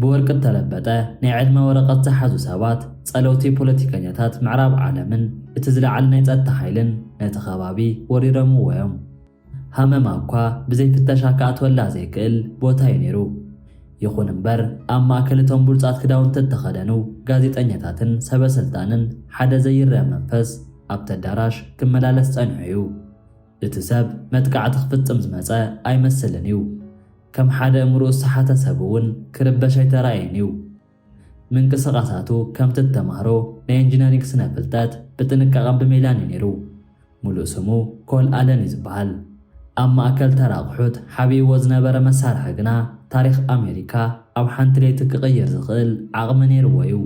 ብወርቂ እተለበጠ ናይ ዕድመ ወረቐት ዝሓዙ ሰባት፣ ጸለውቲ ፖለቲከኛታት ምዕራብ ዓለምን እቲ ዝለዓለ ናይ ጸጥታ ሓይልን ነቲ ከባቢ ወሪሮምዎ ኢዮም። ሃመማ እኳ ብዘይ ፍተሻ ክኣትወላ ዘይክእል ቦታ ኢዩ ነይሩ። ይኹን እምበር ኣብ ማእከል እቶም ብሉጻት ክዳውንቲ እተኸደኑ ጋዜጠኛታትን ሰበስልጣንን ሓደ ዘይረኣ መንፈስ ኣብቲ ኣዳራሽ ክመላለስ ጸኒሑ ኢዩ። እቲ ሰብ መጥቃዕቲ ክፍጽም ዝመጸ ኣይመስልን እዩ። ከም ሓደ ኣእምሮኡ ዝሰሓተ ሰብ እውን ክርበሽ ኣይተራእየን እዩ። ምንቅስቓሳቱ ከምቲ እቲ ተማሃሮ ናይ ኢንጂነሪንግ ስነ ፍልጠት ብጥንቃቐን ብሜላን እዩ ነይሩ። ምሉእ ስሙ ኮል ኣለን እዩ ዝበሃል። ኣብ ማእከል ተራ ኣቑሑት ሓቢእዎ ዝነበረ መሳርሒ ግና ታሪኽ ኣሜሪካ ኣብ ሓንቲ ለይቲ ክቕይር ዝኽእል ዓቕሚ ነይርዎ እዩ።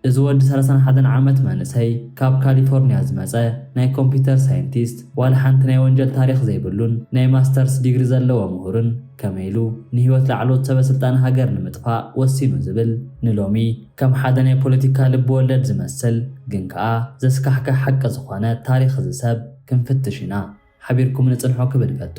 እዚ ወዲ ሰላሳን ሓደን ዓመት መንእሰይ ካብ ካሊፎርንያ ዝመጸ ናይ ኮምፒተር ሳይንቲስት ዋላ ሓንቲ ናይ ወንጀል ታሪኽ ዘይብሉን ናይ ማስተርስ ዲግሪ ዘለዎ ምሁርን ከመይ ኢሉ ንህይወት ላዕለዎት ሰበ ስልጣን ሃገር ንምጥፋእ ወሲኑ ዝብል ንሎሚ ከም ሓደ ናይ ፖለቲካ ልቢ ወለድ ዝመስል ግን ከኣ ዘስካሕክሕ ሓቂ ዝኾነ ታሪኽ እዚ ሰብ ክንፍትሽ ኢና። ሓቢርኩምኒ ጽንሑ ክብል እፈቱ።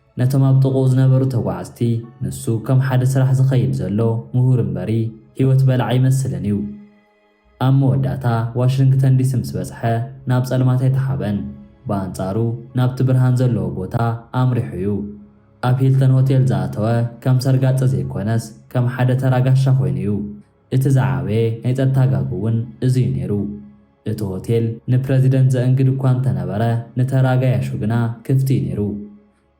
ነቶም ኣብ ጥቕኡ ዝነበሩ ተጓዓዝቲ፣ ንሱ ከም ሓደ ስራሕ ዝኸይድ ዘሎ ምሁር እምበሪ፣ ህይወት በላዒ ኣይመስልን እዩ። ኣብ መወዳእታ ዋሽንግተን ዲሲ ምስ በጽሐ፣ ናብ ጸልማት ኣይተሓበን። ብኣንጻሩ፣ ናብቲ ብርሃን ዘለዎ ቦታ ኣምሪሑ እዩ። ኣብ ሂልተን ሆቴል ዝኣተወ፣ ከም ሰርጋጠ ዘይኮነስ፣ ከም ሓደ ተራ ጋሻ ኮይኑ እዩ። እቲ ዝዓበየ ናይ ጸጥታ ጋግ'ውን እዚ'ዩ ነይሩ። እቲ ሆቴል ንፕረዚደንት ዘእንግድ እኳ እንተነበረ፣ ንተራ ገያሾ ግና ክፍቲ'ዩ ነይሩ።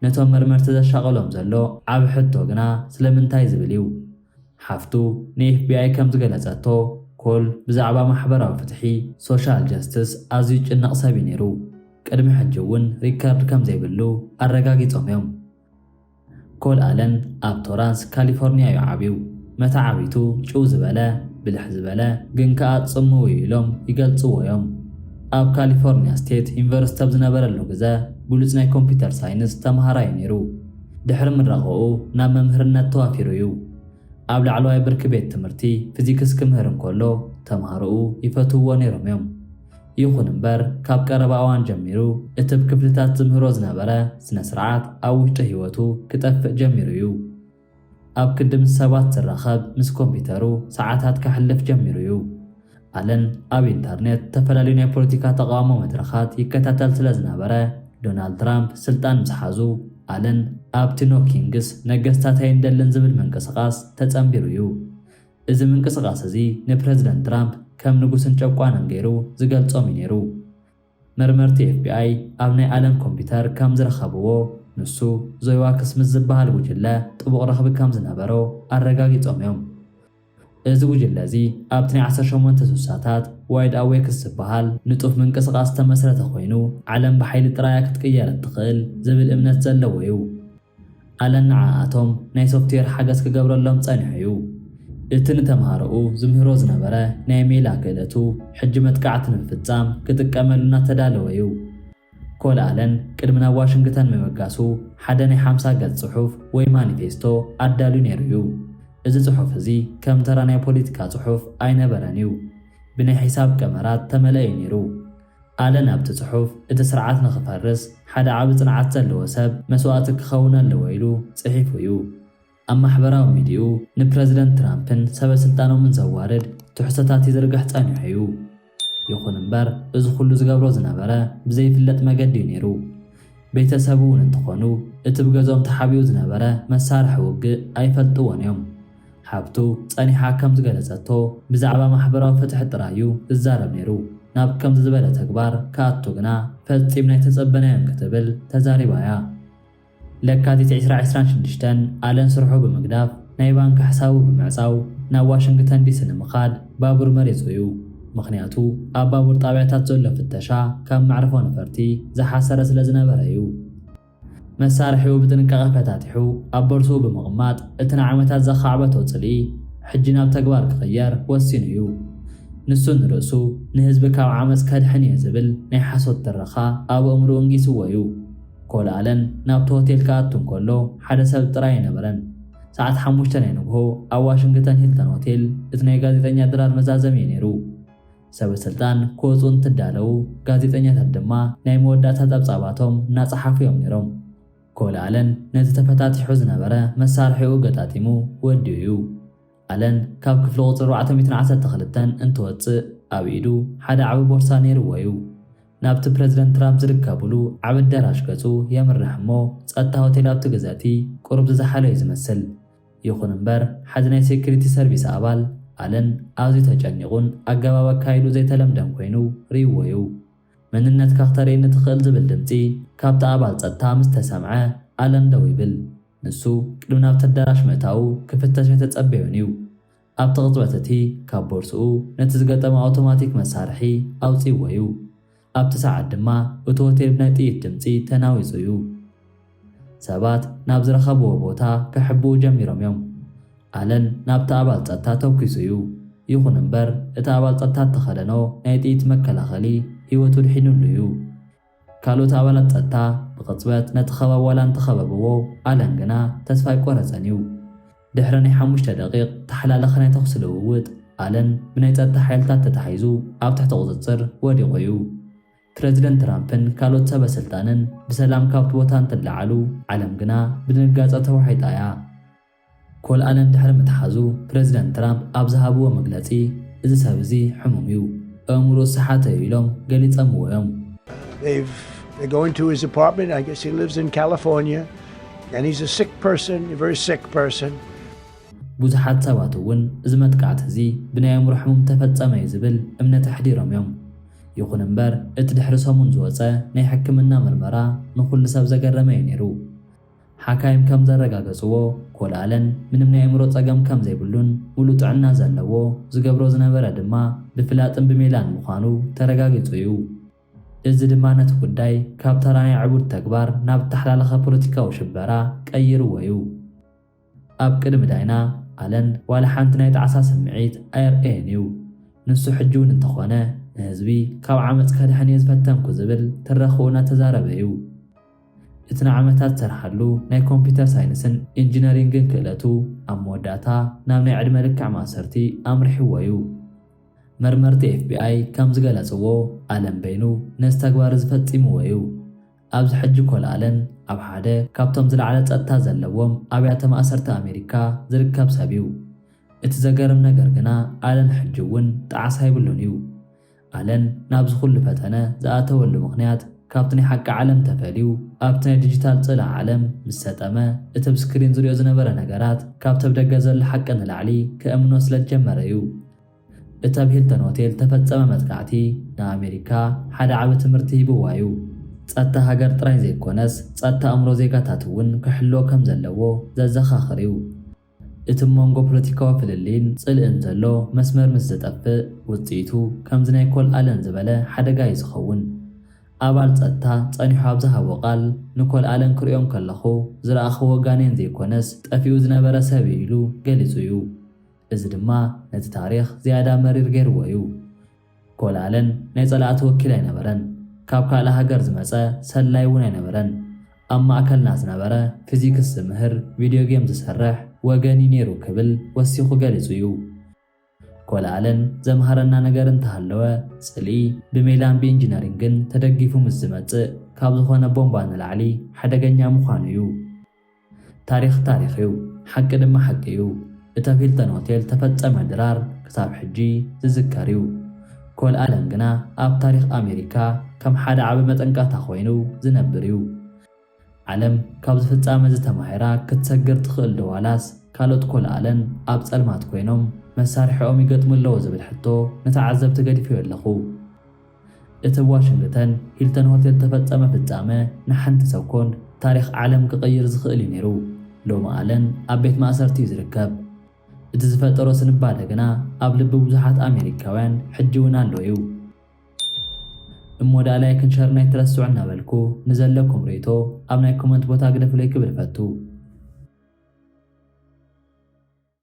ነቶም መርመርቲ ዘሻቕሎም ዘሎ ዓቢ ሕቶ ግና ስለምንታይ ዝብል'ዩ። ሓፍቱ ንኤፍቢኣይ ከም ዝገለጸቶ፣ ኮል ብዛዕባ ማሕበራዊ ፍትሒ፣ ሶሻል ጀስትስ፣ ኣዝዩ ዝጭነቕ ሰብ'ዩ ነይሩ። ቅድሚ ሕጂ'ውን ሪከርድ ከም ዘይብሉ ኣረጋጊጾም'ዮም። ኮል ኣለን ኣብ ቶራንስ ካሊፎርኒያ'ዩ ዓብዩ። መተዓብይቱ ጭው ዝበለ፣ ብልሕ ዝበለ፣ ግን ከኣ ጽምው'ዩ ኢሎም ይገልጽዎ'ዮም። ኣብ ካሊፎርኒያ ስቴት ዩኒቨርስቲ ኣብ ዝነበረሉ ግዘ ብሉጽ ናይ ኮምፒተር ሳይንስ ተመሃራይ'ዩ ነይሩ። ድሕሪ ምረቓኡ ናብ መምህርነት ተዋፊሩ'ዩ። ኣብ ላዕለዋይ ብርኪ ቤት ትምህርቲ ፊዚክስ ክምህር እንከሎ ተምሃሮኡ ይፈትውዎ ነይሮም'ዮም። ይኹን እምበር፣ ካብ ቀረባ እዋን ጀሚሩ እቲ ብ ክፍልታት ዝምህሮ ዝነበረ ስነ-ስርዓት ኣብ ውሽጢ ህይወቱ ክጠፍእ ጀሚሩ እዩ። ኣብ ክንዲ ምስ ሰባት ዝራኸብ ምስ ኮምፒተሩ ሰዓታት ከሕልፍ ጀሚሩ እዩ። ኣለን ኣብ ኢንተርኔት ዝተፈላለዩ ናይ ፖለቲካ ተቓውሞ መድረኻት ይከታተል ስለ ዝነበረ፣ ዶናልድ ትራምፕ ስልጣን ምስ ሓዙ ኣለን ኣብቲ ኖ ኪንግስ፣ ነገስታት ኣይንደልን፣ ዝብል ምንቅስቓስ ተጸንቢሩ እዩ። እዚ ምንቅስቓስ እዚ ንፕረዚደንት ትራምፕ ከም ንጉስን ጨቋንን ገይሩ ዝገልጾም እዩ ነይሩ። መርመርቲ ኤፍቢኣይ ኣብ ናይ ኣለን ኮምፒዩተር ከም ዝረኸብዎ፣ ንሱ ዞይዋክስ ምስ ዝበሃል ጉጅለ ጥቡቕ ረኽቢ ከም ዝነበሮ ኣረጋጊጾም እዮም። እዚ ጉጅለ እዚ ኣብቲ ናይ ዓሰርተ ሸሞንተ ስሳታት ዋይድ ኣዌክስ ዝበሃል ንጡፍ ምንቅስቓስ ዝተመስረተ ኮይኑ፣ ዓለም ብሓይሊ ጥራይ እያ ክትቅየር እትኽእል ዝብል እምነት ዘለዎ እዩ። ኣለን ንዓኣቶም ናይ ሶፍትዌር ሓገዝ ክገብረሎም ጸኒሑ እዩ። እቲ ንተምሃሮኡ ዝምህሮ ዝነበረ ናይ ሜላ ክእለቱ ሕጂ መጥቃዕቲ ንምፍጻም ክጥቀመሉ እናተዳለወ እዩ። ኮል ኣለን ቅድሚ ናብ ዋሽንግተን ምብጋሱ ሓደ ናይ ሓምሳ ገጽ ጽሑፍ ወይ ማኒፌስቶ ኣዳልዩ ነይሩ እዩ። እዚ ጽሑፍ እዚ ከም ተራ ናይ ፖሊቲካ ጽሑፍ ኣይነበረን እዩ። ብናይ ሒሳብ ቀመራት ተመልአ እዩ ነይሩ። ኣለን ኣብቲ ጽሑፍ፣ እቲ ስርዓት ንኽፈርስ ሓደ ዓቢ ጽንዓት ዘለዎ ሰብ መስዋእቲ ክኸውን ኣለዎ ኢሉ ጽሒፉ እዩ። ኣብ ማሕበራዊ ሚዲይኡ ንፕረዚደንት ትራምፕን ሰበስልጣኖምን ዘዋርድ ትሕዝቶታት ይዝርግሕ ጸኒሑ እዩ። ይኹን እምበር እዚ ኹሉ ዝገብሮ ዝነበረ ብዘይፍለጥ መገዲ እዩ ነይሩ። ቤተሰቡ'ውን እንተኾኑ እቲ ብገዝኦም ተሓቢኡ ዝነበረ መሳርሒ ውግእ ኣይፈልጥዎን እዮም። ሃብቱ ጸኒሓ ከም ዝገለጸቶ፣ ብዛዕባ ማሕበራዊ ፍትሒ ጥራይ እዩ ዝዛረብ ነይሩ፣ ናብ ከምዚ ዝበለ ተግባር ክኣቱ ግና ፈጺምና ኣይተጸበናዮን ክትብል ተዛሪባ እያ። ለካቲት ዕስራ ዕስራን ሽዱሽተን፣ ኣለን ስርሑ ብምግዳፍ ናይ ባንክ ሕሳቡ ብምዕጻው ናብ ዋሽንግተን ዲሲ ንምኻድ ባቡር መሪጹ እዩ። ምኽንያቱ ኣብ ባቡር ጣብያታት ዘሎ ፍተሻ ካብ መዕርፎ ነፈርቲ ዝሓሰረ ስለ ዝነበረ እዩ። መሳርሒኡ ብጥንቃቐ ፈታቲሑ ኣብ ቦርስኡ ብምቕማጥ፣ እቲ ንዓመታት ዘኻዕበቶ ጽልኢ ሕጂ ናብ ተግባር ክቕየር ወሲኑ እዩ። ንሱ ንርእሱ፣ ንህዝቢ ካብ ዓመጽ ከድሕን እየ ዝብል ናይ ሓሶት ትረኻ ኣብ ኣእምሮኡ እንጊሱዎ እዩ። ኮል ኣለን ናብቲ ሆቴል ክኣቱ እንከሎ ሓደ ሰብ ጥራይ ኣይነበረን። ሰዓት ሓሙሽተ ናይ ንግሆ ኣብ ዋሽንግተን ሂልተን ሆቴል እቲ ናይ ጋዜጠኛ ድራር መዛዘሚ እዩ ነይሩ። ሰበስልጣን ክወጹ እንትዳለዉ ጋዜጠኛታት ድማ ናይ መወዳእታ ጸብጻባቶም እናጸሓፉ እዮም ነይሮም። ኮል ኣለን ነዚ ተፈታቲሑ ዝነበረ መሳርሒኡ ገጣጢሙ ወዲኡ እዩ። ኣለን ካብ ክፍሊ ቁጽሪ ኣርባዕተ ሚእትን ዓሰርተ ክልተን እንትወጽእ ኣብ ኢዱ ሓደ ዓቢ ቦርሳ ነይርዎ እዩ። ናብቲ ፕረዚደንት ትራምፕ ዝርከቡሉ ዓቢ ኣዳራሽ ገጹ የምርሕ እሞ ጸጥታ ሆቴል ኣብቲ ግዘ'ቲ ቁሩብ ዝዘሓሎ እዩ ዝመስል። ይኹን እምበር ሓዲ ናይ ሴኩሪቲ ሰርቪስ ኣባል፣ ኣለን፣ ኣዝዩ ተጨኒቑን ኣገባብ ኣካይድኡ ዘይተለምደን ኮይኑ ርእይዎ'ዩ። መንነትካ ክተርእየኒ ትኽእል ዝብል ድምጺ ካብቲ ኣባል ጸጥታ ምስ ተሰምዐ፣ ኣለን ደው ይብል። ንሱ ቅድሚ ናብቲ ኣዳራሽ ምእታዉ ክፍተሽ ኣይተጸበዮን'ዩ። ኣብቲ ቅጽበት እቲ ካብ ቦርስኡ ነቲ ዝገጠመ ኣውቶማቲክ መሳርሒ ኣውጺእዎ እዩ። ኣብቲ ሰዓት ድማ እቲ ሆቴል ብናይ ጥይት ድምጺ ተናዊጹ እዩ። ሰባት ናብ ዝረኸብዎ ቦታ ክሕብኡ ጀሚሮም እዮም። ኣለን ናብቲ ኣባል ጸጥታ ተኲሱ እዩ። ይኹን እምበር እቲ ኣባል ጸጥታ እተኸደኖ ናይ ጥይት መከላኸሊ ህይወቱ ኣድሒኑሉ እዩ። ካልኦት ኣባላት ጸጥታ ብቕጽበት ነቲ ከባቢ ዋላ እንተ ኸበብዎ፣ ኣለን ግና ተስፋ ኣይቈረጸን እዩ። ድሕሪ ናይ ሓሙሽተ ደቒቕ ተሓላለኸ ናይ ተዅሲ ልውውጥ፣ ኣለን ብናይ ጸጥታ ሓይልታት ተታሒዙ ኣብ ትሕቲ ቍጽጽር ወዲቑ እዩ። ፕረዚደንት ትራምፕን ካልኦት ሰበ ስልጣንን ብሰላም ካብቲ ቦታ እንትለዓሉ፣ ዓለም ግና ብድንጋጸ ተዋሒጣ እያ። ኮል ኣለም ድሕሪ ምትሓዙ ፕረዚደንት ትራምፕ ኣብ ዝሃብዎ መግለጺ፣ እዚ ሰብ እዚ ሕሙም እዩ፣ ኣእምሮኡ ዝሰሓተ እዩ ኢሎም ገሊጸምዎ እዮም። They go into his apartment, I guess he lives in California, and he's a sick person, a very sick person. ብዙሓት ሰባት እውን እዚ መጥቃዕቲ እዚ ብናይ ኣእምሮ ሕሙም ተፈጸመ እዩ ዝብል እምነት ኣሕዲሮም እዮም። ይኹን እምበር እቲ ድሕሪ ሰሙን ዝወጸ ናይ ሕክምና ምርመራ ንኹሉ ሰብ ዘገረመ እዩ ነይሩ። ሓካይም ከም ዘረጋገጽዎ፣ ኮል ኣለን ምንም ናይ ኣእምሮ ጸገም ከም ዘይብሉን ምሉእ ጥዕና ዘለዎ፣ ዝገብሮ ዝነበረ ድማ ብፍላጥን ብሜላን ምዃኑ ተረጋጊጹ እዩ። እዚ ድማ ነቲ ጉዳይ ካብ ተራ ናይ ዕቡድ ተግባር ናብ እተሓላለኸ ፖለቲካዊ ሽበራ ቀይርዎ እዩ። ኣብ ቅድሚ ዳይና ኣለን ዋላ ሓንቲ ናይ ጣዕሳ ስምዒት ኣየርእየን እዩ። ንሱ ሕጂ እውን እንተኾነ ንህዝቢ ካብ ዓመጽ ከድሕን እየ ዝፈተንኩ ዝብል ትረኽኡ እናተዛረበ እዩ። እቲ ንዓመታት ዝሰርሓሉ ናይ ኮምፒተር ሳይንስን ኢንጂነሪንግን ክእለቱ ኣብ መወዳእታ ናብ ናይ ዕድመ ልክዕ ማእሰርቲ ኣምሪሕዎ'ዩ። መርመርቲ ኤፍቢኣይ ከም ዝገለጽዎ፣ ኣለን በይኑ ነዚ ተግባር'ዚ ፈጺምዎ'ዩ። ኣብዚ ሕጂ ኮል ኣለን ኣብ ሓደ ካብቶም ዝለዓለ ጸጥታ ዘለዎም ኣብያተ ማእሰርቲ ኣሜሪካ ዝርከብ ሰብ'ዩ። እቲ ዘገርም ነገር ግና ኣለን ሕጂ'ውን ጣዕሳ የብሉን'ዩ። ኣለን ናብዚ ኩሉ ፈተነ ዝኣተወሉ ምኽንያት ካብቲ ናይ ሓቂ ዓለም ተፈልዩ ኣብቲ ናይ ድጂታል ጽልኣ ዓለም ምስ ሰጠመ እቲ ብ ስክሪን ዝሪኦ ዝነበረ ነገራት ካብቲ ብ ደገ ዘሎ ሓቂ ንላዕሊ ከእምኖ ስለ ዝጀመረ እዩ። እቲ ኣብ ሂልተን ሆቴል ዝተፈጸመ መጥቃዕቲ ንኣሜሪካ ሓደ ዓቢ ትምህርቲ ሂብዋ እዩ። ጸጥታ ሃገር ጥራይ ዘይኮነስ ጸጥታ ኣእምሮ ዜጋታት እውን ክሕልዎ ከም ዘለዎ ዘዘኻኽር እዩ። እቲ ብ መንጎ ፖለቲካዊ ፍልልይን ጽልእን ዘሎ መስመር ምስ ዝጠፍእ፣ ውጽኢቱ ከምዚ ናይ ኮል ኣለን ዝበለ ሓደጋ እዩ ዝኸውን። ኣባል ጸጥታ ጸኒሑ ኣብ ዝሃቦ ቃል፣ ንኮል ኣለን ክርእዮ እንከለኹ ዝረኣኽዎ ጋኔን ዘይኮነስ ጠፊኡ ዝነበረ ሰብ እዩ ኢሉ ገሊጹ እዩ። እዚ ድማ ነቲ ታሪኽ ዝያዳ መሪር ገይርዎ እዩ። ጎልኣለን ናይ ጸላእቲ ወኪል ኣይነበረን፣ ካብ ካልእ ሃገር ዝመጸ ሰላይ እውን ኣይነበረን። ኣብ ማእከልና ዝነበረ ፊዚክስ ዝምህር፣ ቪድዮ ጌም ዝሰርሕ ወገን እዩ ነይሩ ክብል ወሲኹ ገሊጹ እዩ። ጎልኣለን ዘምሃረና ነገር እንተሃለወ ጽልኢ ብሜላን ብኢንጂነሪንግን ተደጊፉ ምስ ዝመጽእ ካብ ዝኾነ ቦምባ ንላዕሊ ሓደገኛ ምዃኑ እዩ። ታሪኽ ታሪኽ እዩ ሓቂ ድማ ሓቂ እዩ እቲ ኣብ ሂልተን ሆቴል ዝተፈጸመ ድራር ክሳብ ሕጂ ዝዝከር እዩ ኮል ኣለን ግና ኣብ ታሪኽ ኣሜሪካ ከም ሓደ ዓቢ መጠንቀቕታ ኮይኑ ዝነብር እዩ ዓለም ካብዚ ፍጻመ እዚ ተማሂራ ክትሰግር ትኽእል ዶ ዋላስ ካልኦት ኮል ኣለን ኣብ ጸልማት ኮይኖም መሳርሒኦም ይገጥሙ ኣለዉ ዝብል ሕቶ ንተዓዘብቲ ገዲፈዮ ኣለኹ። እቲ ዋሽንግተን ሂልተን ሆቴል ተፈጸመ ፍጻመ ንሓንቲ ሰኮንድ ታሪኽ ዓለም ክቕይር ዝኽእል እዩ ነይሩ። ሎሚ ኣለን ኣብ ቤት ማእሰርቲ እዩ ዝርከብ። እቲ ዝፈጠሮ ስንባደ ግና ኣብ ልቢ ብዙሓት ኣሜሪካውያን ሕጂ እውን ኣሎ እዩ። እሞ ደኣ ላይክን ሸርን ኣይትረስዑ እናበልኩ ንዘለኩም ርእይቶ ኣብ ናይ ኮመንት ቦታ ግደፉለይ ክብል እፈቱ።